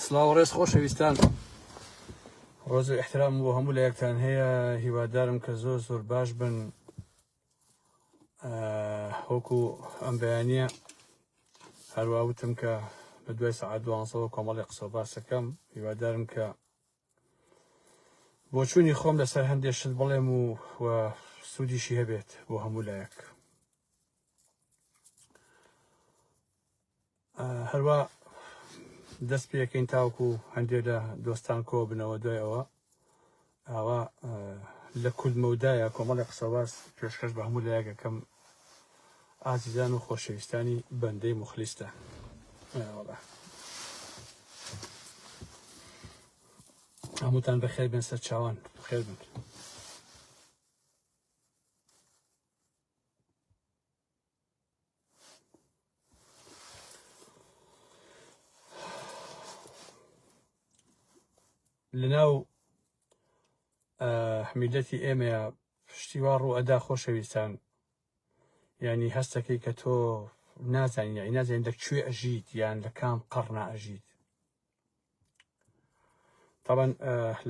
سلاو ڕێز خۆشەویستان ڕۆز و احترام بۆ هەموو لە یەکتان هەیە هیوادارم کە زۆر زۆر باش بن هۆکو ئەم بەیانە هەروواوتم کە بە دوای سعات دوانسەوە کۆمەڵی قسە باسەکەم هیوادارم کە بۆچوونی خۆم لەسەر هەندێک شت بڵێم و و سوودیشی هەبێت بۆ هەموو لایەک هەروا دەست پێەکەین تاوکو هەندێک لە دۆستان کۆ بنەوە دوای ئەوە ئاوا لە کول مەودایە کۆمەڵی قسەواز پێشکەش بە هەموو لایەکەکەم ئازیزان و خۆشەویستانی بەندەی مخلیستە هەمووتان بەخێر بێن سەر چاوان خێر بن. لەناو حمیلەتی ئێمەیە پشتیوا ڕوو ئەدا خۆشەویستان ینی هەستەکەی کە تۆ نازانین نازانین دەکوێ ئەژیت یان لە کام قڕنا ئەژیت طبعا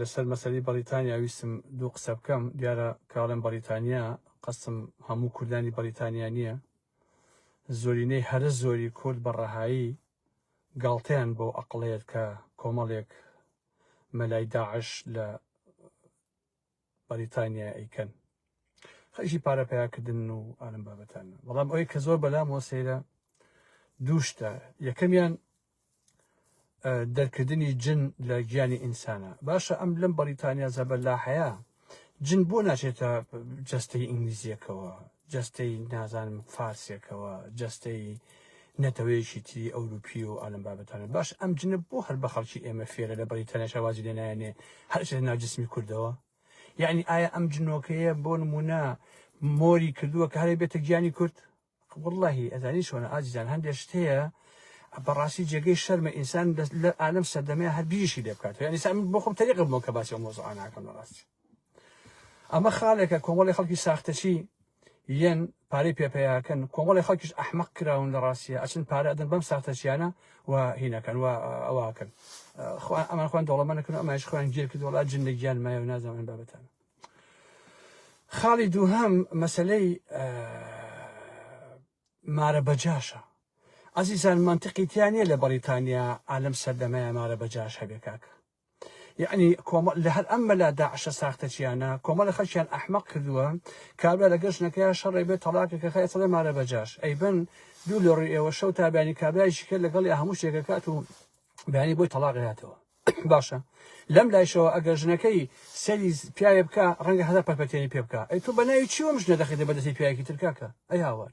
لەسەر مەسەری بەریتانیا ویستم دوو قسە بکەم دیارە کاڵێن بەریتانیا قەسم هەموو کوردانی بەریتانیا نییە زۆرینەی هەرە زۆری کورد بە ڕەهایی گاڵتەیان بۆ ئەقڵەیەت کە کۆمەڵێک مەلای داعش لە بەریتانیا ئەیکەن خەشی پارە پیاکردن و ئالم بابەتان بەڵام ئەوەی کە زۆر بەلام وە سەیرە دووشتە یەکەمیان دەرکردنی جن لە گیانی ئینسانە باشە ئەم لەم بەریتانیا زەبەر لا حەیە جن بۆ ناچێتە جەستەی ئینگلیزیەکەوە جەستەی نازانم فارسێکەوە جەستەی نەتەوەیەکی تری ئەوروپی و ئالم بابەتانە باش ئەم جنە بۆ هەر بە خەڵکی ئێمە فێرە لە بەڵی تەنەشەوازی لێ نایەنێ هەرچ لە ناجسمی کوردەوە یعنی ئایا ئەم جنۆکەیە بۆ نمونە مۆری کردووە کارێ بێتە گیانی کورد واللهی ئەزانی شۆنە ئازیزان هەندێک شتەیە بەڕاستی جێگەی شەرمە ئینسان لە ئالم سەردەمەیە هەر بیریشی لێ بکاتەوە یعنی سامن بۆ خۆم تەریقە بۆ کە باسی ئەو مۆزوعانە ناکەم لە ڕاستی ئەمە خالێکە کۆمەڵی خەڵکی ساختەچی یەن پارەی پێپەیاکەن کۆمەڵی خەڵکیش ئەحمەق کراون لە ڕاستیە ئەچن پارە ئەدەن بەم ساختەچیانە و هینەکەن و ئەواکەن ئەمان خوان دەوڵەمەەکەن ئەماش خوان گیر کە دۆڵات جن لە گیان مایە و نازانن بابەتان خاڵی دووهەم مەسلەی مارە بەجاشە ئازیزان منتقی تیانە لە بەریتانیا ئالم سەردەمەیە مارە بەجاش هەبێ کاکە یەعنی کۆمە لە هەر ئەم مەلا داعشە ساختەچیانە کۆمەڵە خەلکیان ئەحمەق کردووە کابرا لەگەر ژنەکەیان شەڕێ بێت تەڵاکەکە خەیە تڵێ مارە بەجاش ئەیبن دوو لە ڕوی ئێوە شەو تا بەیانی کابرایشی کرد لەگەڵی هەموو شتێکەکات و بەیانی بۆی تەڵاق هاتەوە باشە لەم لایشەوە ئەگەر ژنەکەی سەری پیاوێ بکە ڕەنگە هەزار پەرپەتێنی پێ بکە ئەی تۆ بە ناوی چیوەم ژنە دەخیتە بەدەستی پیاوێکی ترکاکە ئەی هاوار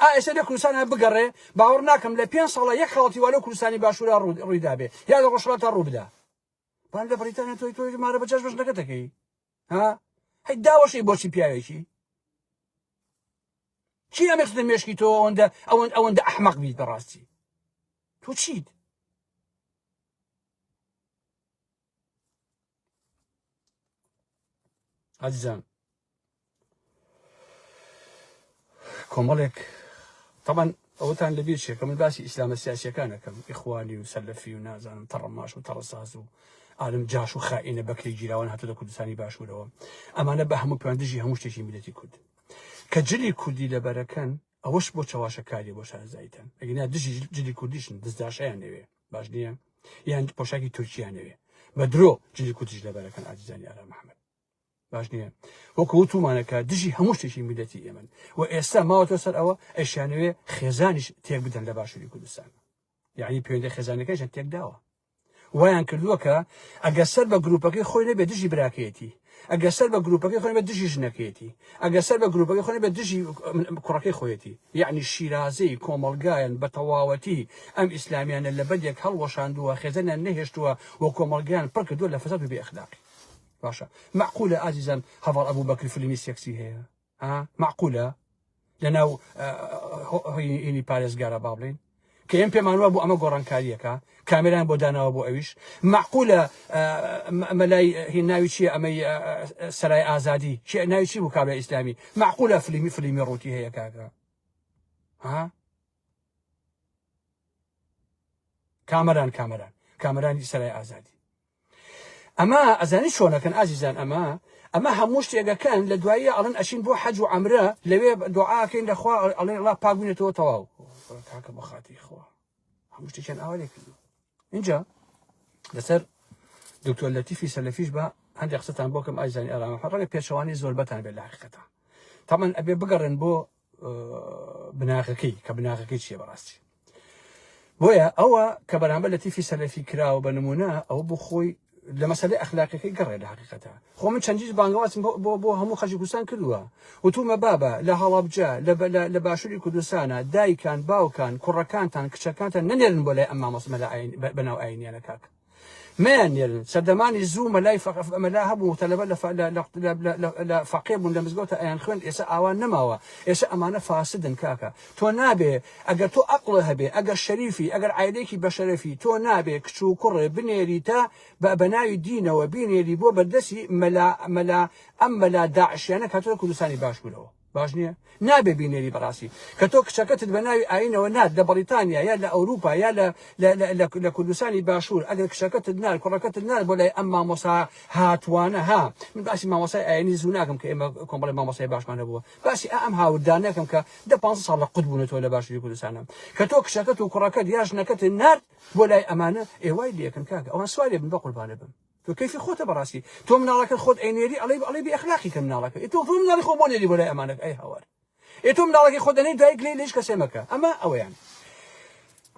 ئا ئێسە لە کوردستان هە بگەڕێ باوەڕ ناکەم لە پێنج ساڵە یەک خاڵتی وا لەو کوردستانی باشوورا ڕوو- ڕووی دابێ یا لە ڕۆژهەڵاتا ڕوو بدا بان لە بەریتانیا تۆی تۆی مارە بەجاش بەش نەکەتەکەی ها هەی داوەشی بۆچی پیاوێکی چی ئەمێ خدە مێشکی تۆ ئەوەندە ئەوەند ئەوەندە ئەحمەق بیت بەڕاستی تۆ چیت ئەزیزان کۆمەڵێک تەمان ئەوتان لە بیر شێکە من باسی ئیسلامە سیاسەکانەکەم ئیخوانی و سەلفی و نازانم تەڕەماش و تەڕساز و عالم جاش و خائینە بەکری گیراوان هاتە لە کوردستانی باشوورەوە ئەمانە بە هەموو پێیان دژی هەموو شتێکی میلەتی کورد کە جلی کوردی لەبەرەکەن ئەوەش بۆ چەواشەکاری بۆ شارزایتن ئەگینا دژی جلی کوردیشن دەستداشیان نەوێ باش نییە یان پۆشاکی تورکیانەوێ بە درۆ جلی کوردش لەبەرەکەن ئازیزانی ئارا محەممەد باش نییە وەکو وتومانەکە دژی هەموو شتێکی میلەتی ئێمن و ئێستا ماوەتە سەر ئەوە ئەشیانەوێ خێزانیش تێک بدەن لە باشووری کوردستان یعنی پێوەندی خێزانەکەشە تێکداوە وایان کردووە کە ئەگەر سەر بە گروپەکەی خۆی نەبێ دژی براکەیەتی ئەگەر سەر بە گروپەکەی خۆی بە دژی ژنەکەیەتی ئەگەر سەر بە گروپەکەی خۆی بە دژی کوڕەکەی خۆیەتی یعنی شیرازەی کۆمەلگایەن بە تەواوەتی ئەم ئیسلامیانە لە بەدێک هەڵوەشاندووە خێزەنە نەهێشتووە و کۆمەلگیان پڕ کردووە لە فەساد و بێ ئەخلاقی باشە معقولە ئازیزان هەڤاڵ ئەبوبەکر فلیمی سێکسی هەیە معقولە لە ناو هۆینی پارێزگارە با بڵین کە ئێم پێمانوە بۆ ئەمە گۆڕانکاریەکە کامێران بۆ داناوە بۆ ئەویش معقولە مەلای هی ناوی چیە ئەمەی سەرای ئازادی چی ناوی چی بوو کابرا ئیسلامی معقولە فلیمی فلیمی ڕووتی هەیە کاکە ها کامەران کامەران کامەرانی سەرای ئازادی ئەمە ئەزانی چۆنەکەن ئازیزان ئەمە ئەمە هەموو شتێگەکەن لە دواییە ئەڵن ئەشین بۆ حەج و ئەمرە لەوێ دوعاکەین لەخوا ئەڵێ ڵا پاک بوونێتەوە تەواو کاکە بە خاتی خوا هەموو شتێکیان ئاوا لێ کردو اینجا لەسەر دکتۆر لەتیفی سەلەفیش بە هەندێک قسەتان بۆکەم ئایزانی ئەرامە ڕەنگە پێچەوانی زۆربەتان بێت لە حقیقەتە تامان ئەبێ بگەڕێن بۆ بناغەکەی کە بناغەکەی چیە بەڕاستی بۆیە ئەوە کە بەرامبەر لە تیفی سەلەفی کراوە بە نمونە ئەو بخۆی لە مەسلەی ئەخلاقەکەی گەڕێ لە حقیقەتە خۆ من چەندیش بانگوازم بۆ بۆ هەموو خەجی کوردستان کردووە وتومە بابە لە هەڵابجە لە باشووری کوردستانە دایکان باوکان کوڕەکانتان کچەکانتان نەنێرن بۆ لای ئەم مامۆسمە لە بەناو ئاینیانە کاکە مەیان نێرن سەردەمانی زوو مەلای فەق مەلا هەبوو تەلەبە لە لە فەقێ بوون لە مزگەوتە ئەیان خوێن ئێستا ئاوا نەماوە ئێستا ئەمانە فاسدن کاکە تۆ نابێ ئەگەر تۆ ئەقڵ هەبێ ئەگەر شەریفی ئەگەر عیلێکی بەشەرەفی تۆ نابێ کچ و کوڕێ بنێریتە بە بەناوی دینەوە بینێری بۆ بەردەسی مەلا مەلا ئەم مەلا داعشیانە کاتۆ کوردستانی باشوورەوە باش نییە نابێ بینێری بەڕاستی کە تۆ کچەکەتت بە ناوی ئاینەوە نات لە بەڵیتانیا یا لە ئەوروپا یا لە کوردستانی باشوور ئەگەر کچەکەتت نار کوڕەکەتت نار بۆ لای ئەم مامۆسا هاتوانە ها من باسی مامۆسای ئاینی زوو ناکەم کە ئێمە کۆمەڵی مامۆسای باشمان هەبووە باسی ئەم هاوردان نەکەم کە دە پ ساڵ لە قوت بوونەوە لە باشووری کوردستانە کە تۆ کچەکەت و کوڕەکەت یا ژنەکەت نارد بۆ لای ئەمانە ئێوای لەکەن کاکە ئەوان سوارێ بن بە قوربانە بم تۆ کەیفی خۆتە بەڕاستی تۆ مناڵەکەت خۆت ئەینێری ئەڵێی ئەڵێی بێ ئەخلاقی کە مناڵەکە ئێ تۆ تۆ مناڵی خۆ بۆ نێری بۆ لای ئەمانەکە ئەی هاوار ئێ تۆ مناڵەکەی خۆت ئەنێی دایک لێی لە هیچ کەسێ مەکە ئەمە ئەوەیان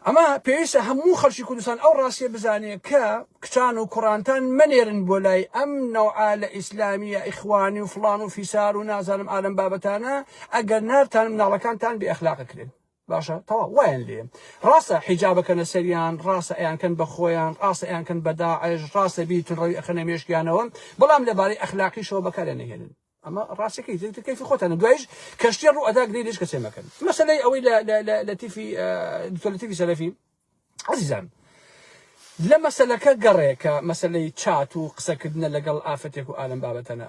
ئەمە پێویستە هەموو خەڵکی کوردستان ئەو ڕاستیە بزانێ کە کچان و کوڕانتان مەنێرن بۆ لای ئەم نەوعا لە ئیسلامیە ئیخوانی و فڵان و فیسار و نازانم ئالەم بابەتانە ئەگەر نارتان مناڵەکانتان بێ ئەخلاقەکرێن باشە تەواو وایان لێ ڕاستە حیجاب ئەکەنە سەریان ڕاستە ئەیانکەن بە خۆیان ڕاستە ئەیانکەن بە داعش ڕاستە بیر تونڕەوی ئەخەنە مێشکیانەوە بەڵام لەبارەی ئەخلاقیشەوە بەکاریان نەهێنن ئەمە ڕاستەکەی تر کەیفی خۆتانە دوایش کەشتیە ڕوو ئەدا گرێ لێش کەسێ مەکەن مەسلەی ئەوەی لە تیفی دکتۆر لەتیفی سەلەفی عزیزان لە مەسلەکە گەڕێکە مەسلەی چات و قسەکردنە لەگەڵ ئافرەتێک و ئالم بابەتەنە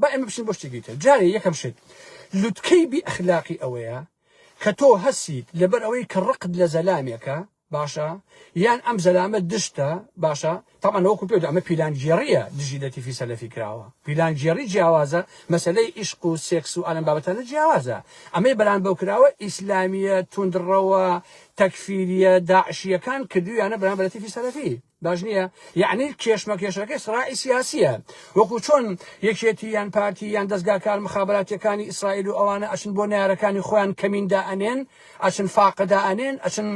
با ئێمە بچین بۆ شتێکی تر جارێ یەکەم شت لوتکەی بی ئەخلاقی ئەوەیە کە تۆ هەسیت لەبەر ئەوەی کە ڕقت لە زەلامێکە باشە یان ئەم زەلامە دشتە باشە تامان وەکو پێ ئەمە پیلانگێڕیە دژی لە تیفی سەلەفی کراوە پیلانگێڕی جیاوازە مەسلەی ئیشق و سێکس و ئالم بابەتانە جیاوازە ئەمەی بەران بەو کراوە ئیسلامیە توندڕەوە تەکفیریە داعشیەکان کردویانە بەران بە لەتیفی سەلەفی باش نییە یعنی کێشمەکێشەکەی سڕاعی سیاسیە وەکو چۆن یەکێتی یان پارتی یان دەستگا کار مخاباتەکانی ئیسرائیل و ئەوانە ئەچن بۆ نارەکانی خۆیان کەمیندا ئەنێن ئەچن فاقدا ئەنێن ئەچن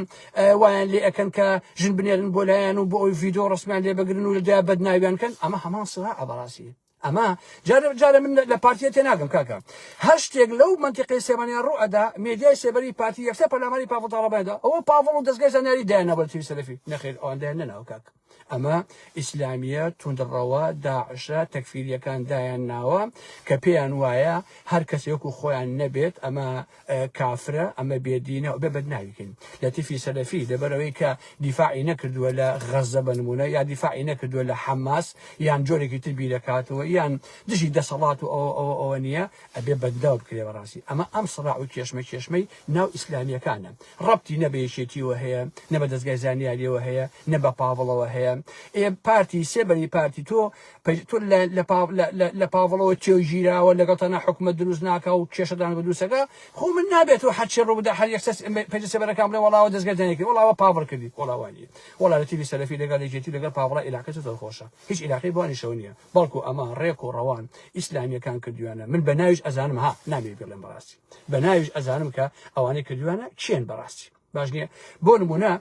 وایان لێ ئەەکەن کە ژن بنێرن بۆ لایەن و بۆ ئەوی ڤیددیو ڕسمیان لێ بگرن و لەدا بەدناویان کەن ئەمە هەمان سرا ئەبڕاستی ئەمە جارێ جارێ من لە پارتیە تێناگەم کاکە هەر شتێک لەو مەنتیقی سێمانیا ڕوو ئەدا مێدیای سێبەری پارتی یەکسەر پەلاماری پاڤڵ تاڵەبانیدا ئەوە پاڤڵ و دەزگای زانیاری دایاننا بە تیوی سەلەفی نەخێر ئەوان دایان نەناوە کاک ئەمە ئیسلامیە توندڕەوە داعشە تەکفیریەکان دایان ناوە کە پێیان وایە هەر کەسێک و خۆیان نەبێت ئەمە کافرە ئەمە بێدینە و بێ بەدناوی کەین لەتیفی سەلەفی لەبەرەوەی کە دیفاعی نەکردووە لە غەزە بە نمونە یا دیفاعی نەکردووە لە حەماس یان جۆرێکی تر بیرەکاتەوە یان دژی دەسەڵات و ئەوە ئەوە ئەوە نییە ئەبێ بەدناو بکرێ بەڕاستی ئەمە ئەم سڕاع و کێشمە کێشمەی ناو ئیسلامیەکانە ڕەبتی نە بە یەکێتیەوە هەیە نە بە دەزگای زانیاریەوە هەیە نە بە پاڤڵەوە هەیە ئێ پارتی سێ بەری پارتی تۆ تۆ لە لە پاڤ لە لە لە پاڤڵەوە چێو گیراوە لەگەڵ تەنها حکومەت دروست ناکا و کێشەدان بە دروستەکە خۆ من نابێت و هەرچی ڕوو بدا هەر یەکسەر پێجە سێبەرەکان بڵێ وەڵاوە دەستگردان یەکردی وەڵاوە پاڤڵ کردی وەڵا وا نییە وەڵا لە تیڤی سەلەفی لەگەڵ یەکێتی و لەگەڵ پاڤڵە عیلاقەی زۆر زۆر خۆشە هیچ عیلاقەی بوانیشەوە نییە بەڵکو ئەمە ڕێک و ڕەوان ئیسلامییەکان کردویانە من بە ناویش ئەزانم ها نامی بڵێم بەڕاستی بە ناویش ئەزانم کە ئەوانەی کردویانە کێن بەڕاستی باش نییە بۆ نموونە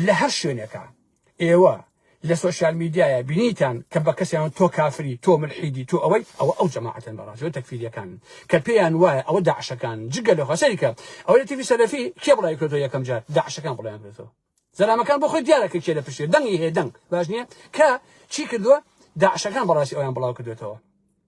لە هەر شوێنێکە ئێوە لە سۆشیال میدیایە بینیتان کە بە کەسیان تۆ کافری تۆ ملحیدی تۆ ئەوەی ئەوە ئەو جەماعەتن بەڕاستەوە تەکفیریەکان کە پێیان وایە ئەوە داعشەکان جگە لە خەسەریکە ئەوە لە تیفی سەلەفی کێ بڵای کرێتەوە یەکەم جار داعشەکان بڵیان کرێتەوە زەلامەکان بۆ خۆی دیارە کە کێ لە پشتێ دەنگی هەیە دەنگ باش نییە کە چی کردووە داعشەکان بەڕاستی ئەویان بڵاو کردێتەوە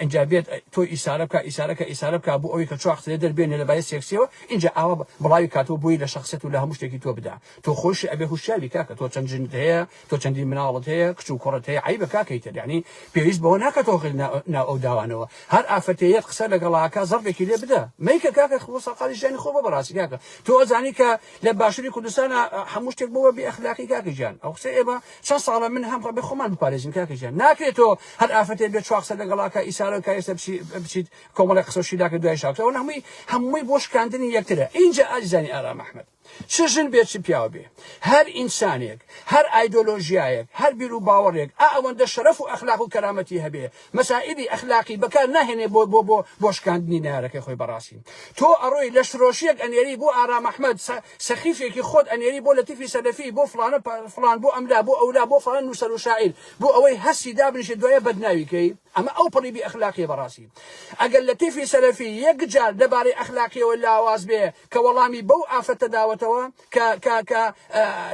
ئینجا بێت تۆی ئیسارە بکا ئیسارە کە ئیسارە بکا بۆ ئەوەی کە چواخت لێ دەر بێنێ لە بایە سێکسیەوە ئینجا ئاوا بڵاوی کاتەوە بۆی لە شەخسیەت و لە هەموو شتێکی تۆ بدا تۆ خۆیشی ئەبێ هوشیار بی کاکە تۆ چەند ژنت هەیە تۆ چەندین مناڵت هەیە کچ و کوڕت هەیە عەیبە کاکەی تر یەعنی پێویست بەوە ناکا تۆ غل ناو ئەو داوانەوە هەر ئافرەتێیەت قسە لەگەڵا ئەکا زەڕبێکی لێ بدە مەیکە کاکە خۆ سەرقالی ژیانی خۆ بە بەڕاستی کاکە تۆ ئەزانی کە لە باشوری کوردستانا هەموو شتێک بۆوە بێ ئەخلاقی کاکە گیان ئەو قسەی ئێمە چەن ساڵە من هەم ڕەبی خۆمان بپارێزین کاکە گیان ناکرێ تۆ هەر ئافرەتێ بێ چوا قسە لەگەڵا کا ئیسارەو کا ئێستا بچی بچیت کۆمەڵێ قسە و شیلاکە دوای شاوتە ئەوە هەمووی هەمووی بۆ شکاندنی یەکترە ئینجا ئازیزانی ئارام ئەحمەد چ ژن بێ چ پیاو بێ هەر ئینسانێک هەر ئایدۆلۆژیایەک هەر بیر و باوەڕێک ئا ئەوەندە شەرەف و ئەخلاق و کەرامەتی هەبێ مەسائیلی ئەخلاقی بەکار ناهێنێ بۆ بۆ بۆ بۆ شکاندنی نەیارەکەی خۆی بەڕاستی تۆ ئەڕۆی لەشفرۆشیەک ئەنێری بۆ ئارام ئەحمەد سە سەخیفێکی خۆت ئەنێری بۆ لەتیفی سەلەفی بۆ فڵانە پە فڵان بۆ ئەملا بۆ ئەولا بۆ فڵان نووسەرو شاعیر بۆ ئەوەی هەستی دابنیشێ دوایە بەدناوی کەی ئەمە ئەو پەڕی بی ئەخلاقیە بەڕاستی ئەگەر لەتیفی سەلەفی یەک جار لەبارەی ئەخلاقیەوە لاواز بێ کە وەڵامی بەو ئافرەتە داوەتەوە کە کە کە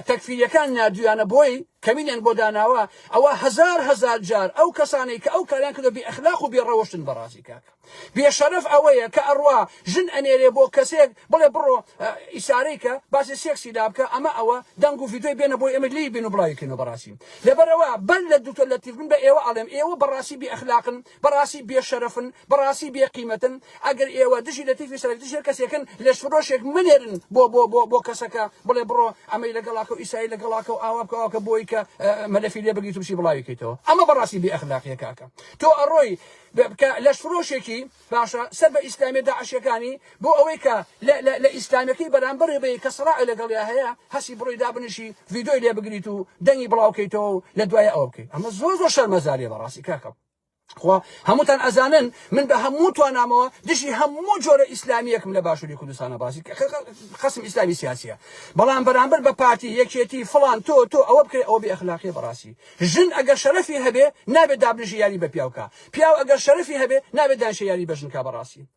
تەکفیریەکان ناردویانە بۆی کەمینیان بۆ داناوە ئەوا هەزار هەزار جار ئەو کەسانەی کە ئەو کاریان کردوە بێ ئەخلاق و بێ ڕەوشتن بەڕازی کاک بێ شەرەف ئەوەیە کە ئەڕوا ژن ئەنێرێ بۆ کەسێک بڵێ بڕۆ ئیسارەی کە باسی سێکسی لا بکە ئەمە ئەوە دەنگ و ڤیدۆی بێنە بۆی ئێمە لێی بین و بڵاوی کەینەوە بەڕاستی لەبەرئەوە بەر لە دکتۆر لەتیف من بە ئێوە ئەڵێم ئێوە بەڕاستی بێ ئەخلاقن بەڕاستی بێ شەرەفن بەڕاستی بێ قیمەتن ئەگەر ئێوە دژی لەتیفی سەرەک دژی هەر کەسێکن لەش فرۆشێک مەنێرن بۆ بۆ بۆ بۆ کەسەکە بڵێ بڕۆ ئەمەی لەگەڵاکەو ئیسایی لەگەڵاکەو ئاوا بکە ئاوکە بۆی کە مەلەفی لێ بگریت و بچی بڵاوی کەیتەوە ئەمە بەڕاستی بێ ئەخلاقیە کاکە تۆ ئەڕۆی بکە لەش فرۆشێکی باشە سەر بە ئیسلامیە داعشیەکانی بۆ ئەوەی کە لە لە لە ئیسلامیەکەی بەرامبەر بی کە سەراعی لەگەڵیا هەیە هەستی بڕۆی دابنیشی ڤیدۆی لێ بگریت و دەنگی بڵاو کەیتەوە و لە دوایە ئەوە بکەیت ئەمە زۆر زۆر شەرمەزاریە بەڕاستی کاکە خوا هەمووتان ئەزانن من بە هەموو توانامەوە دژی هەموو جۆرە ئیسلامیەکم لە باشووری کوردستانە باسی خەسم ئیسلامی سیاسیە بەڵام بەرامبەر بە پارتی یەکێتی فڵان تۆ تۆ ئەوە بکرێت ئەوە بێ ئەخلاقی بەڕاستی ژن ئەگەر شەرەفی هەبێ نابێت دابنیشی یاری بە پیاوکە پیاو ئەگەر شەرەفی هەبێ نابێت دانشە یاری بە ژنکە بەڕاستی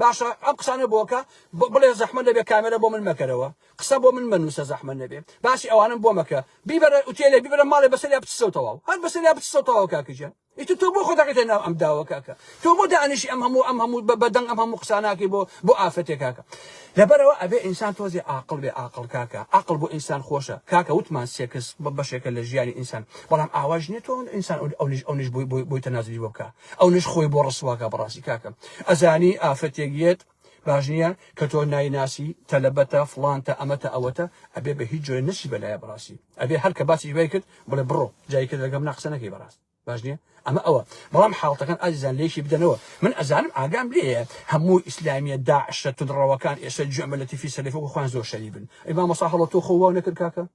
باشە ئەم قسانە بۆکە بڵێ زەحمە نەبێ کامێرە بۆ من مەکەرەوە قسە بۆ من مەنووسە زەحمە نەبێ باسی ئەوانم بۆ مەکە بیبەرە ئوتێلێ بیبەرە ماڵێ بەسەریا بچسەو تەواو هەر بەسەریا بچسەو تەواو کاکە گیان ئیتر تۆ بۆ خۆ دەکەیتە ناو ئەم داوە کاکە تۆ بۆ دانیشی ئەم هەموو ئەم هەموو بەدەنگ ئەم هەموو قساناکەی بۆ بۆ ئافرەتێ کاکە لەبەرەوە ئەبێ ئینسان تۆزێ عاقڵ بێ عاقڵ کاکە عاقڵ بۆ ئینسان خۆشە کاکە وتمان سێکس بەشێکە لە ژیانی ئینسان بەڵام ئاواش نییە تۆ ئینسان ئەو نیش ئەو نیش بووی بووی بوویتە نازلی بۆ بکە ئەونەش خۆی بۆ ڕسواکا بەڕاستی کاکە ئەزانی ئافرەتێک یەت باش نییە کە تۆ نایناسی تەلەبەتە فڵانتە ئەمەتە ئەوەتە ئەبێ بە هیچ جۆرێ نەچی بەلایە بەڕاستی ئەبێ هەر کە باسی دوای کرد بڵێ بڕۆ جای کرد لەگەم ناقسە نەکەی بەڕاست باش نییە ئەمە ئەوە بەڵام حاڵتەکان ئازیزان لێکی بدەنەوە من ئەزانم ئاگام لێیە هەموو ئیسلامیە داعشە تونڕەوەکان ئێستا گوێمە لە تیفی سەلەفی وەکو خۆیان زۆر شەریبن ئەی مامۆسا هەڵۆ تۆ خۆ واو نەکرد کاکە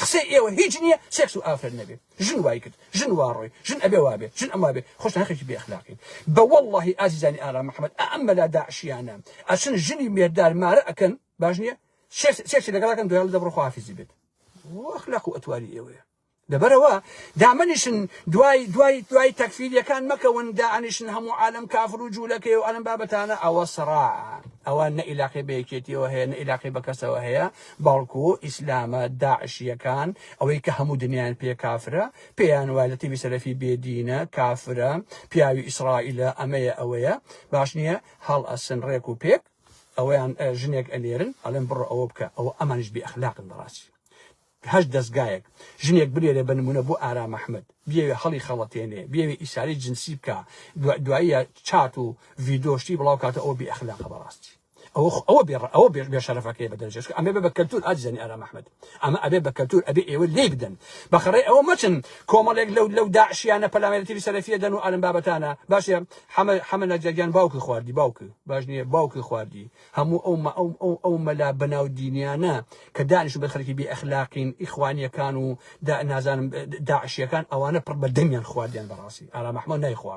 قسەی ئێوە هیچ نیە سێکس و ئافرەت نەبێ ژن وای کرد ژن وا ڕۆی ژن ئەبێ وابێ ژن ئەم وابێ خۆشتان هەرخەکی بێ ئەخلاقین بە وەڵاهی ئازیزانی ئارام محمد ئا ئەم مەلا داعشیانە ئەچن ژنی مێردار مارە ئەکەن باش نیە سێکس سێکسی لەگەڵ ئەکەن دوای ئەڵێ دە بڕۆ خواحافیزی بێت و ئەخلاق و ئەتواری ئێوەیە لەبەرەوە دامەنیشن دوای دوای دوای تەکفیریەکان مەکەون دانیشن هەموو عالم کافر و جوولەکەی و ئەلم بابەتانە ئەوە سەراعە ئەوە نە ئیلاقی بە یەکێتیەوە هەیە نە ئیلاقی بە کەسەوە هەیە بەڵکو ئیسلامە داعشیەکان ئەوەی کە هەموو دنیایان پێ کافرە پێیان وایە لەتیفی سەلەفی بێ دینە کافرە پیاوی ئیسرائیلە ئەمەیە ئەوەیە باش نیە هەڵ ئەسن ڕێک و پێک ئەوەیان ژنێک ئەنێرن ئەڵێن بڕۆ ئەوە بکە ئەوە ئەمانیش بێ ئەخلاقن بەڕاستی هەشت دەزگایەک ژنێک بنێرێ بە نمونە بۆ ئارام ئەحمەد بیەوێ هەڵی خەڵەتێنێ بیەوێ ئیساری جنسی بکا دواییە چات و ڤیدۆ شتی بڵاو کاتە ئەوە بێ ئەخلاقە بەڕاستی. ئەوە خۆ ئەوە بێڕ ئەوە بێ بێ شەرەفەکەی بەدەن جێشکە ئەمێ بە کەلتور ئاجزانی ئارام ئەحمەد ئەمە ئەبێ بە کەلتور ئەبێ ئێوە لێی بدەن بە خەڕێ ئەوە مەچن کۆمەڵێک لەو لەو داعشیانە پەلاماری تیری سەلەفیە دەن و ئالم بابەتانە باشە حەمە حەمە نەجەریان باوکی خواردی باوکی باش نییە باوکی خواردی هەموو ئەو مە ئەو ئەو ئەو مەلا بەناو دینیانە کە دانیشتن بە خەرکی بێ ئەخلاقین ئیخوانیەکان و دا نازانم داعشیەکان ئەوانە پڕ بە دەمیان خواردیان بەڕاستی ئارام ئەحمەد نایخوا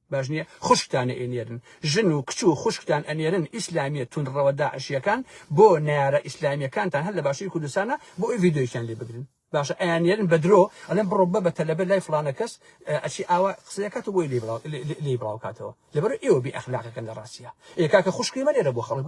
باش نیە خوشکتان ئەینێرن ژن و کچ و خوشکتان ئەنێرن ئیسلامیە توندڕەوە داعشیەکان بۆ نەیارە ئیسلامیەکانتان هەر لە باشوری کوردستانە بۆ ئەوەی ڤیدیۆیەکیان لێ بگرن باشە ئەیاننێرن بە درۆ ئەلێن بڕۆ بە بە تەلەبە لای فڵانە کەس ئەچی ئاوا قسەکات و بۆی لێ بڵاو لێ بڵاوکاتەوە لەبەر ئێوە بێ ئەخلاقەکەن لە ڕاستیە ئێ کاکە خوشکی منێرە بۆ خەڵک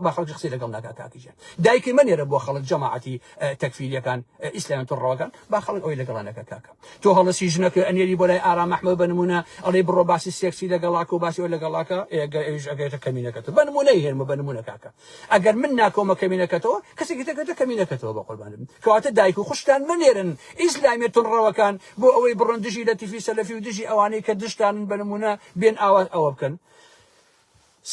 با خەڵکی قسەی لەگەڵ ناکا کاکی جان دایکی منێرە بۆ خەڵک جەماعەتی تەکفیریەکان ئیسلامیان تۆ ڕەوەکان با خەڵک ئەوی لەگەڵانەکە کاکە تۆ هەڵەسی ژنەکە ئەنێری بۆ لای ئارام ئەحمەد بە نمونە ئەڵێی بڕۆ باسی سێکسی لەگەڵاکە و باسی ئەوە لەگەڵاکە ئێ ئەگەر ئەویش ئەگەیتە کەمینەکەتە بە نمونەی هێنمە بە نمونە کاکە ئەگەر من ناکەومە کەمینەکەتەوە کەسێکی تەگەتە کەمینەکەتەوە بە قوربانت بم کەواتە دایک و خوشکتان مەنێرن ئیسلامیە تونڕەوەکان بۆ ئەوەی بڕۆن دژی لەتیفی سەلەفی و دژی ئەوانەی کە دژتانن بە نمونە بێن ئاوا ئەوە بکەن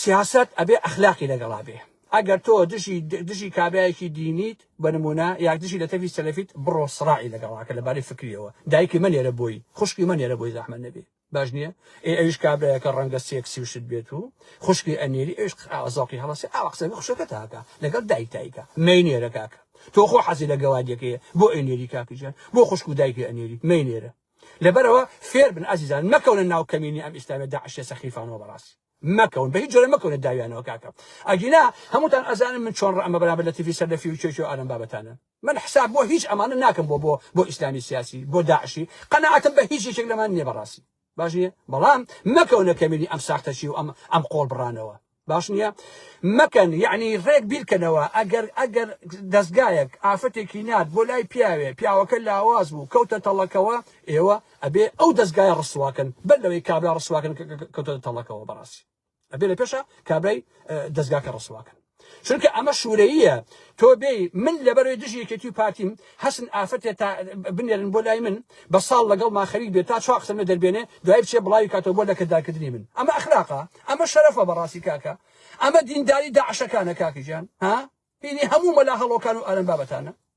سیاسەت ئەبێ ئەخلاقی لەگەڵا بێ ئەگەر تۆ دژی دژی کابرایەکی دینیت بە نمونە یاک دژی لە تەفی سەلەفیت بڕۆ سڕاعی لەگەڵاکە لەبارەی فکریەوە دایکی مەنێرە بۆی خوشکی مەنێرە بۆی زەحمەت نەبێ باش نییە ئێ ئەویش کابرایەکە ڕەنگە سێکسی و شت بێت و خوشکی ئەنێری ئەویش قراوە زەوقی هەڵەسێ ئاوا قسەکە خوشەکە تاکە لەگەڵ دایک تایکە مەینێرە کاکە تۆ خۆ حەزی لە گەوادیەکەیە بۆ ئەینێری کاکی ژیان بۆ خوشک و دایکی ئەنێری مەینێرە لەبەرەوە فێر بن ئازیزان مەکەونە ناو کەمینی ئەم ئیسلامی داعشە سەخیفانەوە بەڕاستی مەکەون بەهیچ جۆرە مەکەونە داویانەوە کاکە ئەگینا هەمووتان ئەزانن من چۆن ڕەمە بەرامبەر لە تیڤی سەر لە فیو کێ کێ ئارەم بابەتانە من حساب بۆ هیچ ئەمانە ناکەم بۆ بۆ بۆ ئیسلامی سیاسی بۆ داعشی قەناعەتم بە هیچ یەکێک لەمان نییە بەڕاستی باش نییە بەڵام مەکەونە کەمێنی ئەم ساختەچی و ئەم ئەم قۆڵ بڕانەوە باش نییە مەکەن یعنی ڕێک بیرکەنەوە ئەگەر ئەگەر دەستگایەک ئافرەتێکی نات بۆ لای پیاوێ پیاوەکە لاواز بوو کەوتە تەڵەکەوە ئێوە ئەبێ ئەو دەزگایە ڕسواکەن بەر لەوەی کابرا ڕسواکەن کەوتە تەڵەکەوە بەڕاستی ئەبێ لە پێشە کابرای دەزگاکە ڕسواکەن چونکە ئەمە شوورەیە تۆ بێ من لەبەرەوەی دژی یەکێتی و پارتیم حەسن ئافرەتێ تا بنێرن بۆ لای من بە ساڵ لەگەڵ ماخەریک بێت تا چوا قسەمە دەربێنێ دوای بچێ بڵاوی کاتەوە بۆ لەکردارکردنی من ئەمە ئەخلاقا ئەمە شەرەفە بەڕاستی کاکە ئەمە دینداری داعشەکانە کاکیجان ها بینی هەموو مەلا هەڵۆکان و ئارم بابەتانە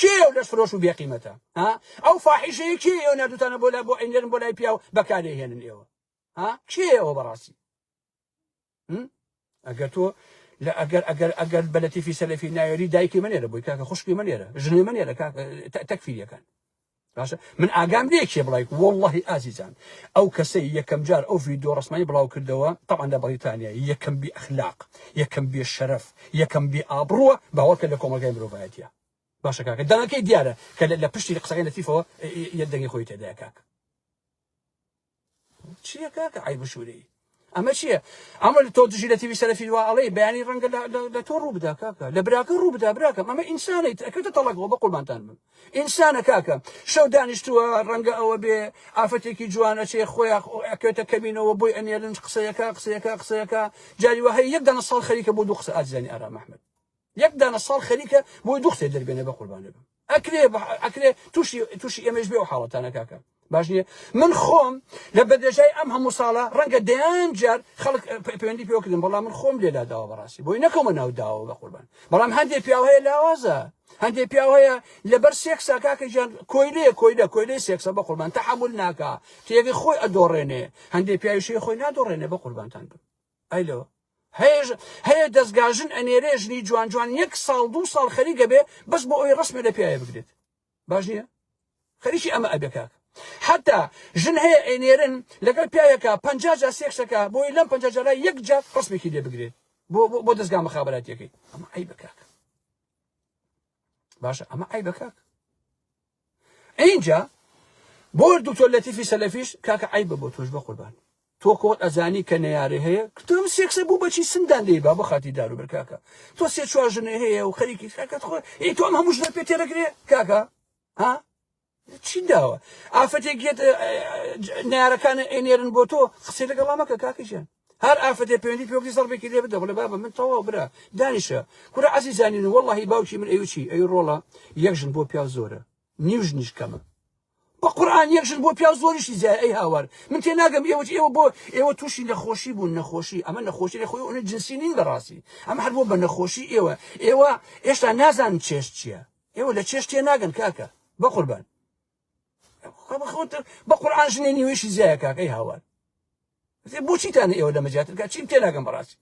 کێ ئەو لەش فرۆش و بێ قیمەتە ها ئەو فاحیشەیە کێ ئێوە نردوتانە بۆ لای بۆ ئەینێرن بۆ لای پیاو بەکارێ هێنن ئێوە ها کێ ئەوە بەڕاستی ئەگەر تۆ لە ئەگەر ئەگەر ئەگەر بە لەتیفی سەلەفی نایەری دایکی منێرە بۆی کاکە خوشکی منێرە ژنێ منێرە کاکە تەکفیریەکان باشە من ئاگام لێ کێ بڵای وڵی ئازیزان ئەو کەسەی یەکەم جار ئەو ڤیددیو ڕسمای بڵاو کردەوە تاوان لە بەڵیتانیا یەکەم بی ئەخلاق یەکەم بێ شەرف یەکەم بی ئابڕووە باوەکە لە کۆمەلگای مرۆڤایەتە باشە کاکە دەنگەکەی دیارە کە لە پشتی قسەکەی لەتیفەوە یە دەنگی خۆی تێدای کاک چیە کاکە عیب و شوورەی ئەمە چییە ئەمە تۆ دژی لە تیوی سەرفی وا ئەڵێ بەیانی ڕەنگە لە تۆ ڕوو بدا کاکە لە براکە ڕوو بدا براکەم ئەمە ئینسانەی ئەکردە تەڵەکەوە بە قوربانتان بم ئینسانە کاکە شەو دانیشتووە ڕەنگە ئەوە بێ ئافرەتێکی جوانە چێ خۆیان ئەکەوێتە کەمینەوە بۆی ئەنێرن قسەیەکە قسەیەکە قسەیەکە جاری وهەیە یەک دانە ساڵ خەریکە بۆ دوو قسە ئازیزانی ئارام ئەحمد یەک دانە ساڵ خەریکە بۆی دوو قسەی دەربێنێ بە قوربانێ بم ئەکرێ ئەکرێ تووشی تووشی ئێمەش بێ و حاڵەتانە کاکە باش نییە من خۆم لە بەدەژای ئەم هەموو ساڵە ڕەنگە دەیان جار خەڵک پەیوەندی پێوەکردم بەڵام من خۆم لێلا داوە بەڕاستی بۆی نەکەمە ناو داوە بە قوربان بەڵام هەندێک پیاو هەیە لاوازە هەندێک پیاو هەیە لەبەر سێکسا کاکە گیان کۆیلەیە کۆیلە کۆیلەی سێکسە بە قوربان تەحمل ناکا تێگەی خۆی ئەدۆڕێنێ هەندێک پیاویشی خۆی نادۆڕێنێ بە قوربانتان بم ئەلۆ هەیەژ هەیە دەستگاژن ئەنێرێ ژنی جوان جوان یەک ساڵ دوو ساڵ خەریکە بێ بەس بۆ ئەوی ڕسمە لە پیاە بگرێت باش نییە خەریکی ئەمە ئەبێکاک حتا ژن هەیە ئەنێرن لەگەڵ پیاەکە پ جا سێکسەکە بۆی لەم پ جارە یەک جا ڕسمێکی لێ بگرێت بۆ بۆ دەستگا مخاباتەکەی ئەمە ئەی بکاک باشە ئەمە ئەی بکاک ئینجا بۆ دکتۆر لەتیفی سەلەفیش کاکە عیبە بۆ تۆش بەقوربان تۆ کۆت ئەزانی کە نەیارێ هەیە کتم سێکسە بوو بەچی سندان دەی با بخاتی دارو بەر کاکە تۆ سێ چوار ژنێ هەیە و خەریکی کاکەت خۆ ئی تۆم هەموو ژنە پێ تێرەگرێ کاکە ها چی داوە ئافرەتێک گێت نارەکانە ئەنێرن بۆ تۆ قسەی لەگەڵا مەکە کاکەژیان هەر ئافەتێ پەیوەندی پێ بکەی زەڕبێکی لێ بدە بڵێ بابە من تەواو برا دانیشە کورە عەزیزانی و وەڵڵاهی باوکی من ئەوی چی ئەوی ڕۆڵە یەک ژن بۆ پیاو زۆرە نیو ژنیش کەمە بە قورآن یەک ژن بۆ پیاو زۆریشی جای ئەی هاوار من تێ ناگەم ئێوە ئێوە بۆ ئێوە تووشی نەخۆشی بوون نەخۆشی ئەمە نەخۆشی لە خۆی ئەوە جنسی نین بەڕاستی ئەمە هەر بۆ بە نەخۆشی ئێوە ئێوە هێشتا نازان چێش چییە ئێوە لە چێش تێ ناگەن کاکە بە قوربان بە قورآن ژنێ نیوەیشی زیایە کاک ئەی هاوار بۆچیتان ئێوە لەمە زیاتر کات چیم تێناگەم بەڕاستی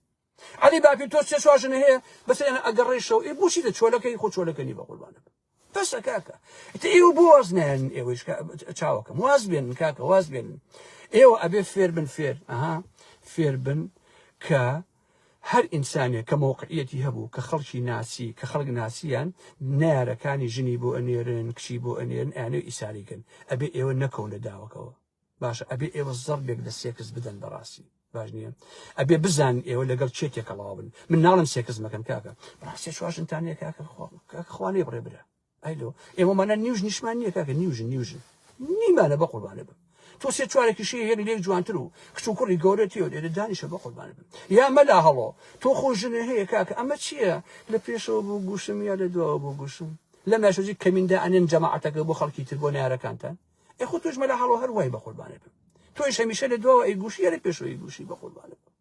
علی باپی تۆ سێ چوار ژنە هەیە بەس ئەگەڕێشەوە ئێ بۆچی دە چۆلەکەی خۆ چۆلەکەنی بە قوربانە بەسە کاکە ئێوە بۆ واز نایەن ئێوەش چاوەکەم واز بێن کاکە واز بێن ئێوە ئەبێ فێر بن فێر ئەها فێر بن کە هەر ئینسانێک کە مەوقعیەتی هەبوو کە خەڵکی ناسی کە خەڵک ناسیان نەیارەکانی ژنی بۆ ئەنێرن کچی بۆ ئەنێرن ئەیانەوێ ئیساری کەن ئەبێ ئێوە نەکەون لە داوەکەوە باشە ئەبێ ئێوە زەڕبێک لە سێکس بدەن بەڕاستی باش نییە ئەبێ بزان ئێوە لەگەڵ چێ تێکەڵاوە بن من ناڵم سێکس مەکەن کاکە بەڕاستی چواشنتانەیە کاکە خوانێ بڕێ برا ئای لۆ ئێمە مانە نیوژ نیشمان نییە کاکە نیوژن نیوژن نیمانە بە قوربانە بم تۆ سێ چوارێکی شێ هێک لێک جوانتر و کچ و کوڕی گەورەتی و لێرە دانیشە بە قوربانە بم یا مەلا هەڵۆ تۆ خۆ ژنە هەیە کاکە ئەمە چییە لە پێشەوە بۆ گوشم یا لە دواوە بۆ گوشم لە ماشۆزی کەمیندا ئەنێن جەماعەتەکە بۆ خەڵکی تر بۆ نارەکانتان ئێ خۆ تۆش مەلا هەڵۆ هەر وای بە قوربانە بم تۆش هەمیشە لە دواوە ئەی گوشی یا لە پێشەوەی گوشی بە قوربانە بم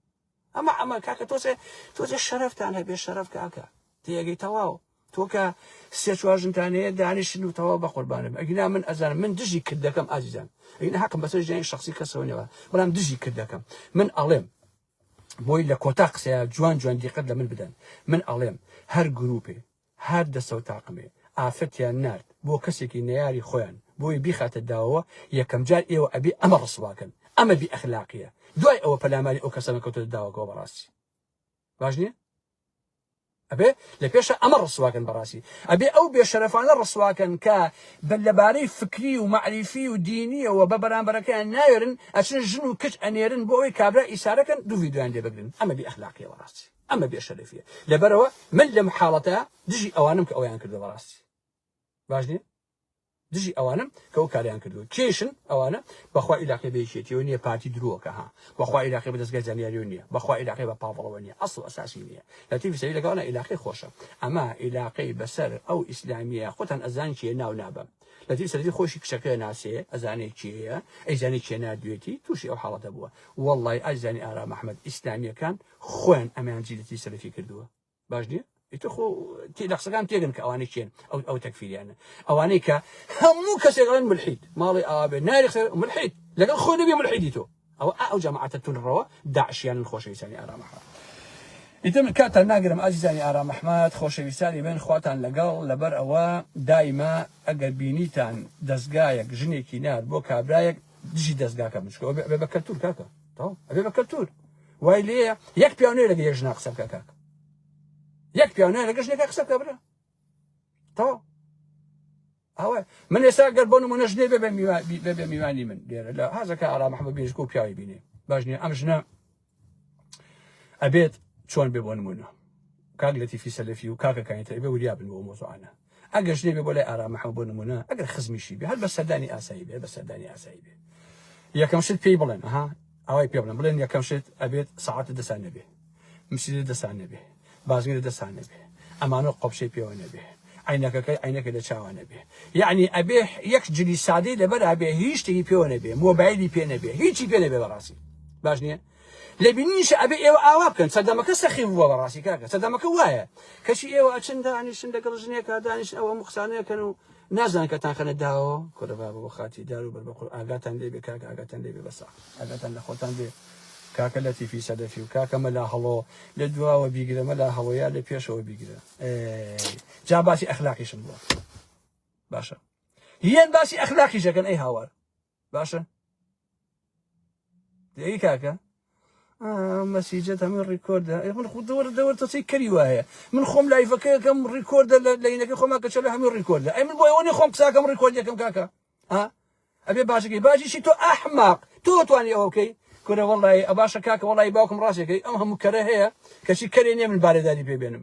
ئەمە ئەمە کاکە تۆزێ تۆزێ شەرفتان هەبێ شەرف کاکە تێگەی تەواو تۆکە سێ چوار ژنتانەیە دانیشن و تەواو بە قوربانم ئەگینا من ئەزانم من دژی کرد دەکەم ئازیزان ئەگینا حەقم بەسەر ژیانی شخصی کەسەوە نێوە بەڵام دژی کرد دەکەم من ئەڵێم بۆی لە کۆتا قسەیە جوان جوان دیقەت لە من بدەن من ئەڵێم هەر گروپێ هات دەسەو تاقمێ ئافرەتیان نارد بۆ کەسێکی نەیاری خۆیان بۆی بیخاتە داوەوە یەکەم جار ئێوە ئەبێ ئەمە ڕسواکەن ئەمە بی ئەخلاقیە دوای ئەوە پەلاماری ئەو کەسانە کەوتۆتە داوەکەوە بەڕاستی باش نیە ئەبێ لە پێشە ئەمە ڕسواکەن بەڕاستی ئەبێ ئەو بێشەرەفانە ڕسواکەن کە بە لەبارەی فکری و معریفی و دینیەوە بە بەرامبەرەکەیان ناوێرن ئەچن ژن و کچ ئەنێرن بۆ ئەوەی کابرا ئیسارەکەن دوو ڤیدیۆیان لێ بگرن ئەمە بی ئەخلاقیە بەڕاستی ئەمە بێ شەرەفیە لەبەرەوە من لەم حاڵەتە دژی ئەوانم کە ئەویان کردە بەڕاستی باش نیە دژی ئەوانم کە ئەو کاریان کردو کێشن ئەوانە بەخوا عیلاقی بێشێتیەوە نیە پارتی درۆکە ها بەخوا عیلاقی بە دەستگای زانیاریو نیە بەخوا عیلاقی بە پاڵەوە نیە ئەسڵ ئەساسی نیە لەتی فسەوی لەگەڵە عیلاقی خۆشە ئەما عیلاقی بەسەر ئەو ئیسلامیە خۆتان ئەزان چیە ناو نابم لەتی سەرتی خۆشی کچەکە ناسێ ئەزانێ چیە ئەیزانانی چێ نادوێتی تووشی ئەو حاڵەتە بووە واللهی ئازانی ئارام ئەحمد ئیسلامیەکان خۆیان ئەمیان جیلتی سەلفی کردووە باش نییە ئیتر خۆ تی لە قسەکان تێگەن کە ئەوانەی چێن ئەو ئەو تەکفیریانە ئەوانەی کە هەموو کەسێک ئەڵێن ملحید ماڵی ئاوێ ناری قسە ملحید لەگەڵ خۆ نەبی ملحیدی تۆ ئەو ئەو جەماعەتە تونڕەوە داعشیانن خۆشەویستانی ئارام ئەحمەد ئیتر من کاتان ناگرم ئازیزانی ئارام ئەحمەد خۆشەویستانی من خواتان لەگەڵ لەبەر ئەوە دایمە ئەگەر بینیتان دەستگایەک ژنێکی نار بۆ کابرایەک دژی دەستگاکە بچکەوە بە کەلتور کاکە تەواو ئەبێ بە کەلتور وای لێیە یەک پیاو نوێ لەگە یەژنا قسە بکە کاک یەک پیاو نوێ لەگەش نێکە قسە بکە برا تەواو ئەوە من ئێستا گەر بۆ نمونە ژنێ بێ بێ میوانی من لێرە لە هازەکە ئارا محەممەد بێژک و پیاوی بینێ باش نیە ئەم ژنە ئەبێت چۆن بێ بۆ نمونە کاک لەتیفی سەلەفی و کاکە کانی تەیبە وریا بن بۆ ئەو مەوزوعانە ئەگەرش نەبێ بۆ لای ئارام محمد بۆ نمونە ئەگەر خزمیشی بێ هەر بە سەردانی ئاسایی بێ بە سەردانی ئاسایی بێ یەکەم شت پێی بڵێن ها ئەوەی پێ بڵێن بڵێن یەکەم شت ئەبێت سەعات لە دەسان نەبێ مسجد لە دەسان نەبێ بازگە لە دەسان نەبێ ئەمانە قۆپشەی پێوە نەبێ عینەکەکەی عینەکە لە چاوان نەبێ یعنی ئەبێ یەک جلی سادەی لەبەر ئەبێ هیچ شتێکی پێوە نەبێ مۆبایلی پێ نەبێ هیچی پێ نەبێ بەڕاستی باش نییە لە بینینیشە ئەبێ ئێوە ئاوا بکەن سەردەمەکە سەخیف بووە بەڕاستی کاکە سەردەمەکە وایە کەچی ئێوە ئەچن دانیشن لەگەڵ ژنێکا دانیشن ئەو هەموو قسانەیە کەن و نازان کە تانخەنە داوە کورە بابە بۆ خاتی دار و بەر بە قور ئاگاتان لێ بێ کاکە ئاگاتان لێ بێ بەسە ئاگاتان لە خۆتان بێ کاکە لەتیفی سەدەفی و کاکە مەلا هەڵۆ لە دواوە بیگرە مەلا هەڵۆیە لە پێشەوە بیگرە جا باسی ئەخلاقیشم بووە باشە هیان باسی ئەخلاقیشەکەن ئەی هاوار باشە دەی کاکە مەسیجە هەمە ڕیکۆردە من خود دەوەر دەوەر تەسی کەری وایە من خۆم لایفەکەکەم ڕیکۆردە لە لەینەکە خۆما کە چەلە هەموو ڕیکۆردە ئەی من بۆیەوەنی خۆم قساکەم ڕیکۆردەکەم کاکە ها ئەبێ باشەکەی باشیشی تۆ ئەحماق تۆ توانی ئەوە بکەی کورە وڵی ئەباشە کاکە وڵی باوکم ڕاستەکەی ئەم هەموو کەرە هەیە کەچی کەرێ نیە من بارێداری پێبێنم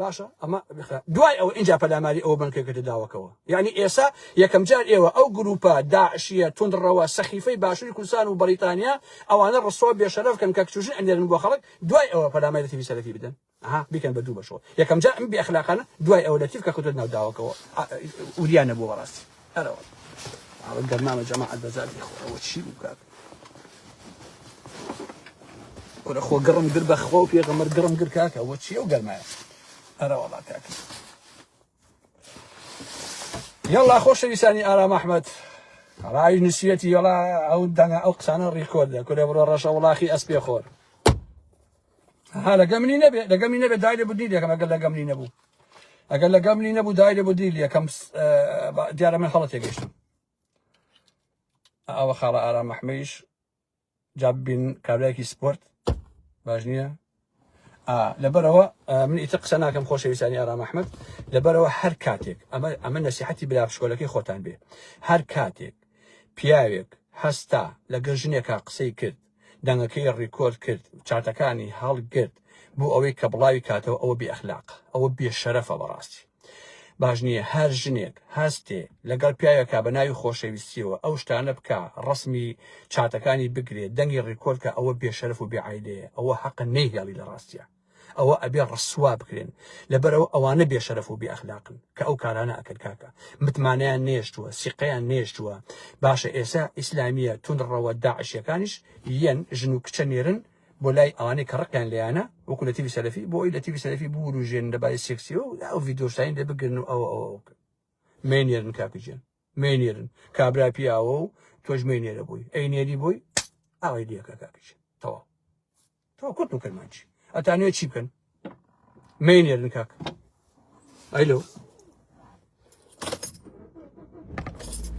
باشە ئەمە بخە دوای ئەو ئینجا پەلاماری ئەو بنکەکەتە داوەکەوە یعنی ئێسا یەکەم جار ئێوە ئەو گروپە داعشیە تونڕەوە سەخیفەی باشووری کوردستان و بەریتانیا ئەوانە ڕسوا بێشەرەفکەن کە کچژن ئەنێرن بۆ خەڵک دوای ئەوە پەلامای لە تیوی سەرەکی بدەن ها بیکەن بە دوو بەشەوە یەکەم جار ئەم بێ ئەخلاقانە دوای ئەو لە تیف کە کەوتە ناو داوەکەوە وریانە بۆ بەڕاستی ئەرەوە ئەوە گەرمامە جەماعەت بەزاتی خۆ ئەوە چی بکات کورە خۆ گڕم گر بە خۆ پێغەمەر گڕم گر کاکە ئەوە چی ئەو گەرمایە ئەرەوەڵا کاکە یاڵا خۆشەویستانی ئارام ئەحمد ڕای نووسەتی یاڵا ئەو دەنگە ئەو قسانە ڕیکۆردە کورە بڕۆ ڕەشە وڵاخی ئەسپێ خۆر ها لەگە منی نەبێ لەگە منی نەبێ دای لێ بودنی لەکەم ئەگەر لەگە منی نەبوو ئەگەر لەگە منی نەبوو دای لێ بودنی لەکەم دیارە من هەڵەتێ گەشتم ئەوە خاڵە ئارام مەحمەیش جاب بین کابراێکی سپۆرت باش نییە لەبەرەوە من ئیتە قسە ناکەم خۆشەویستانی ئارام ئەحمد لەبەرەوە هەر کاتێک ئەمە ئەمە نسیحەتی برا شکۆلەکەی خۆتان بێ هەر کاتێک پیاوێک هەستا لەگە ژنێکا قسەی کرد دەنگەکەی ڕیکۆرد کرد چاتەکانی هەڵگرت بۆ ئەوەی کە بڵاوی کاتەوە ئەوە بێ ئەخلاق ئەوە بێ شەرەفە بەڕاستی باش نییە هەر ژنێک هەستێ لەگەڵ پیاوێکا بە ناوی خۆشەویستیەوە ئەو شتانە بکە ڕسمی چاتەکانی بگرێت دەنگی ڕیکۆرد کە ئەوە بێ شەرف و بێعیلەیە ئەوە حەقە نەیهێڵی لە ڕاستیە ئەوە ئەبێ ڕسوا بکرێن لەبەرەوە ئەوانە بێشەرەف و بێ ئەخلاقن کە ئەو کارانە ئەکەن کاکە متمانەیان نێشتووە سیقەیان نێشتووە باشە ئێسا ئیسلامیە توندڕەوە داعشیەکانیش یەن ژن و کچە نێرن بۆ لای ئەوانەی کە ڕقیان لێیانە وەکو لە تیوی سەلەفی بۆ ئەوی لە تیوی سەلەفی بوروژێن لەبارەی سێکسیەوە ئەو ڤیدیۆشتانی لێ بگرن و ئەوە ئەوە مەینێرن کاکە گیان مێنێرن کابرا پیاوە و تۆش مێنێرە بووی ئەی نێری بووی ئاوای لەکە کاکیش تەواو تۆ کورت و کرمانچی ئەتانێ چی بکەن مێنێرن کاک ئەیلو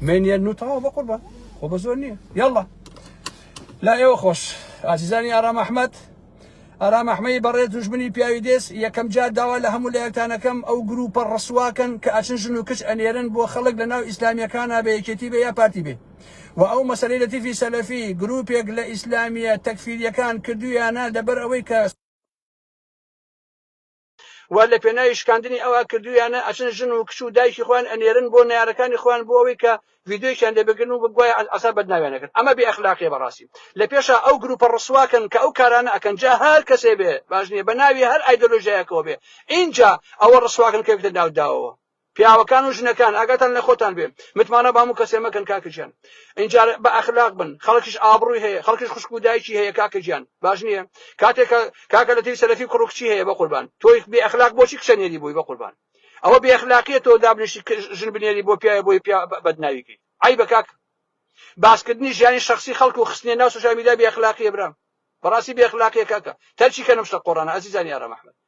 مێنێرن و تەواو بە قوربە خۆ بە زۆر نییە یاڵە لا ئێوە خۆش ئازیزانی ئارام ئەحمد ئارام ئەحمەی بەڕێز دوژمنی پیاوی دێز یەکەم جار داوا لە هەموو لایەکتان ئەکەم ئەو گرووپە ڕسواکەن کە ئەچن ژن و کچ ئەنێرن بۆ خەڵک لە ناو ئیسلامییەکانا بە یەکێتی بێ یا پارتی بێ و ئەو مەسەلەی لەتیفی سەلەفی گرووپێک لە ئیسلامییە تەکفیرییەکان کردوویانە لەبەر ئەوەی کە و لە پێناوی شکاندنی ئەوا کردویانە ئەچن ژن و کچ و دایکی خۆیان ئەنێرن بۆ نارەکانی خۆیان بۆ ئەوەی کە ڤیددیویان لێ بگرن و بگوایە ئەسا بەدناویانەکرد ئەمە بێ ئەخلاقیە بەڕاستی لە پێشا ئەو گروپە ڕسواکەن کە ئەو کارانە ئەکەن جا هەر کەسێ بێ باش نیە بە ناوی هەر ئایدۆلۆژیایەکەوە بێ ئینجا ئەوە ڕسواکەن کەوتە ناوداوەوە پیاوەکان و ژنەکان ئاگاتان لە خۆتان بێ متمانە بامو کەسێ مەکەن کاکە گیان اینجا بە ئەخلاق بن خەڵکیش ئابڕووی هەیە خەڵکیش خوشک و دایکی هەیە کاکە گیان باش نییە کاتێکە کاکە لە تری سەلەفی کوڕ و کچی هەیە بە قوربان تۆی بێ ئەخلاق بۆچی کچە نێری بووی بە قوربان ئەوە بێ ئەخلاقیە تۆ دابنیشتی ژن بنێری بۆ پیاە بۆی پیا بەدناویکەی ئای بە کاک باسکردنی ژیانی شخصی خەڵک و خستنیە ناو سوشیال میدیا بێ ئەخلاقیە برام بەڕاستی بێ ئەخلاقیە کاکە تەرکی کە نەم شتە قۆڕانە ئەزیزانی ئارام ئەحمەد